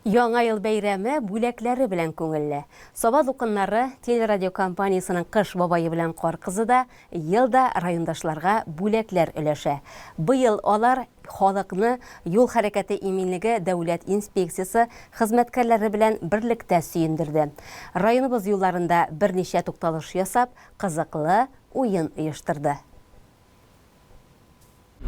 Яңа ел бәйрәме бүләкләре белән күңелле. Саба дулкыннары телерадиокомпаниясенең Кыш бабае белән Кар кызы да ел да райондашларга бүләкләр өләшә. Быел алар халыкны юл хәрәкәте иминлеге дәүләт инспекциясе хезмәткәрләре белән берлектә сөендерде. Районыбыз юлларында берничә тукталыш ясап, кызыклы уен оештырды.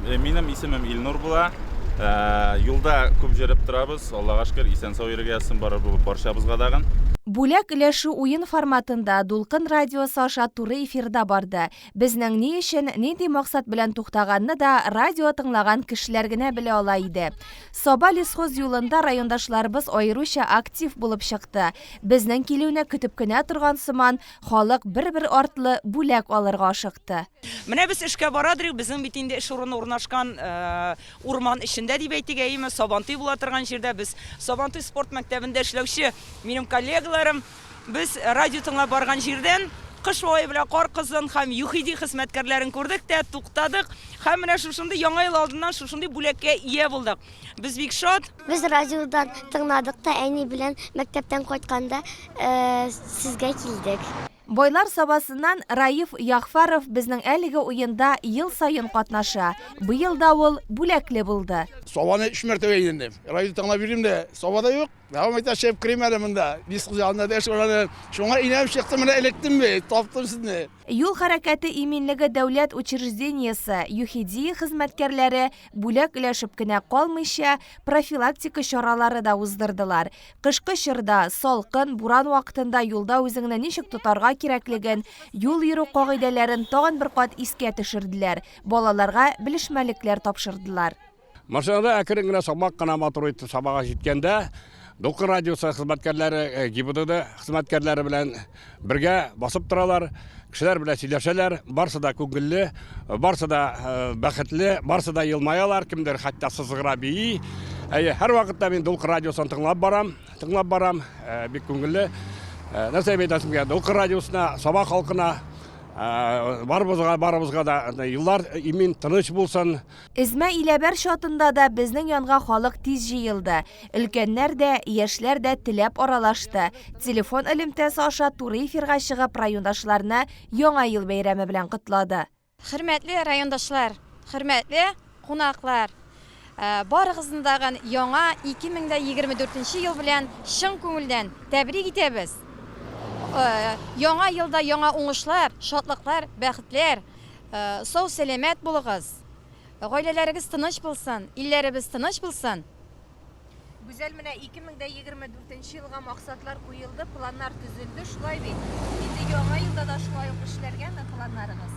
Э, минем исемем Илнур була. Э, юлда күп җөреп торабыз. Аллага шөкер, исән сау йөрергә язсын барыр булып барчабызга дагын. Бүләк өләшү уен форматында Дулкын радиосы аша туры эфирда барды. Безнең ни өчен, нинди максат белән туктаганны да радио тыңлаган кешеләр генә белә ала иде. Саба лесхоз юлында райондашларыбыз аеруча актив булып чыкты. Безнең килүне көтеп кенә торган сыман, Халык бер-бер артлы бүләк алырга ашыкты. Менә без эшкә бара дөрик, безнең бит инде эш урыны урнашкан урман эчендә дип әйтик, әйеме, Сабантуй була торган җирдә без Сабантуй спорт мәктәбендә эшләүче минем коллегаларым, без радио тыңлап барган җирдән кыш бабай белән кар кызын һәм ЮХИДИ хезмәткәрләрен күрдек тә, туктадык һәм менә шушындый яңа ел алдыннан шушындый бүләккә ия булдык. Без бик шат. Без радиодан тыңладык та әни белән мәктәптән кайтканда сезгә килдек. Байлар Сабасыннан Раиф Ягъфәров безнең әлеге уенда ел саен катнаша. Быел да ул бүләкле булды. Сабаны өч мәртәбә әйләндем. Радио тыңлап йөрим дә, Саба да юк. Дәвам итә, чыгып керим әле монда. Диск янында да эш бар әле. Шуңа әйләнеп чыктым, менә эләктем бит, таптым сезне. Юл хәрәкәте иминлеге дәүләт учреждениесе, ЮХИДИ, хезмәткәрләре бүләк өләшеп кенә калмыйча, профилактика чаралары да уздырдылар. Кышкы чорда, салкын, буран вакытында юлда үзеңне ничек тотарга кирәклеген, юл йөрү кагыйдәләрен тагын бер кат искә төшерделәр, балаларга белешмәлекләр тапшырдылар. Машинада әкрен генә сабак кына матур итеп сабага җиткәндә, Дулкын радиосы хезмәткәрләре э, ГИБДД хезмәткәрләре белән бергә басып торалар, кешеләр белән сөйләшәләр, барсы да күңелле, барсы да э, бәхетле, барсы да елмаялар, кемдер хәтта сызгыра бии. Әйе, һәр вакытта мин Дулкын радиосын тыңлап барам, тыңлап барам, э, бик күңелле. Нәрсә әйтәсем килә, Дулкын радиосына, Саба халкына Ә, барыбызга барыбызга да юллар имин тыныч булсын Эзмә Иләбәр чатында да безнең янга халык тиз җыелды. Өлкәннәр дә, яшьләр дә теләп аралашты. Телефон элемтәсе аша туры эфирга чыгып райондашларны Яңа ел бәйрәме белән котлады. Хөрмәтле райондашлар, хөрмәтле кунаклар! Барыгызны тагын яңа 2024 нче ел белән чын күңелдән тәбрик итәбез! Яңа елда яңа уңышлар, шатлыклар, бәхетләр, Сау сәламәт булыгыз, гаиләләрегез тыныч булсын, илләребез тыныч булсын. Гүзәл, менә 2024 нче елга максатлар куелды, планнар төзелде, шулай бит? Инде яңа елда да шулай ук эшләргәме планнарыгыз?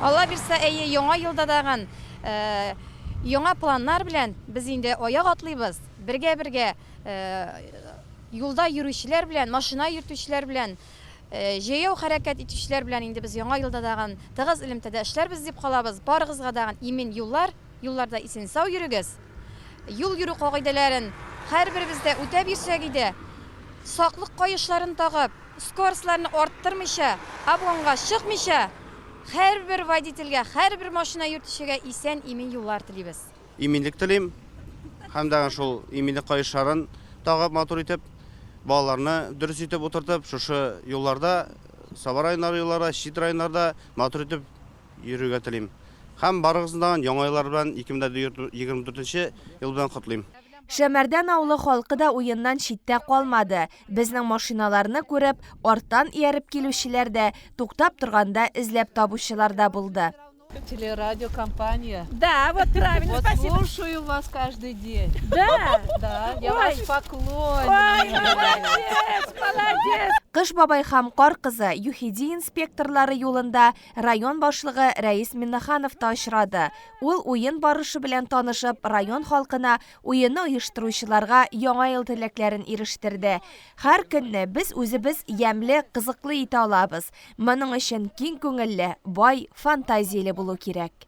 Алла бирса, әйе, яңа елда дагын яңа планнар белән без инде аяк атлыйбыз, бергә-бергә юлда йөрүчеләр белән, машина йөртүчеләр белән. Җәяү хәрәкәт итүчеләр белән инде без Яңа елда дагын тыгыз элемтәдә эшләрбез дип калабыз. Барыгызга дагын имин юллар, юлларда исен-сау йөрегез. Юл йөрү кагыйдәләрен һәрберебез дә үтәп йөрсәк иде. Саклык каешларын тагып, скоростьларны арттырмыйча, обгонга чыкмыйча, һәрбер водительгә, һәрбер машина йөртүчегә исән-имин юллар телибез. Иминлек телим һәм дәгән шул иминлек каешларын тагып матур итеп, балаларны дөрес итеп утыртып, шушы юлларда, Саба районнары юлларда, чит районнарда матур итеп йөрергә телим. Һәм барыгызны даган Яңа еллар белән 2024 нче ел белән котлыйм. Шәмәрдән авылы халкы да уеннан читтә калмады. Безнең машиналарны күреп, арттан ияреп килүчеләр дә, туктап торганда эзләп табучылар да булды. Телерадиокомпания. Да, вот правильно, вот спасибо. слушаю вас каждый день. Да? Да, я Ой. ваш поклонник. Ой, молодец, молодец. Кыш бабай һәм кар кызы ЮХИДИ инспекторлары юлында район башлыгы Рәис Миннаханов та очрады. Ул уен барышы белән танышып, район халкына уенны оештыручыларга яңа ел теләкләрен ирештерде. Һәр көнне без үзебез ямьле, кызыклы итә алабыз. Моның өчен киң күңелле, бай, фантазияле булу кирәк.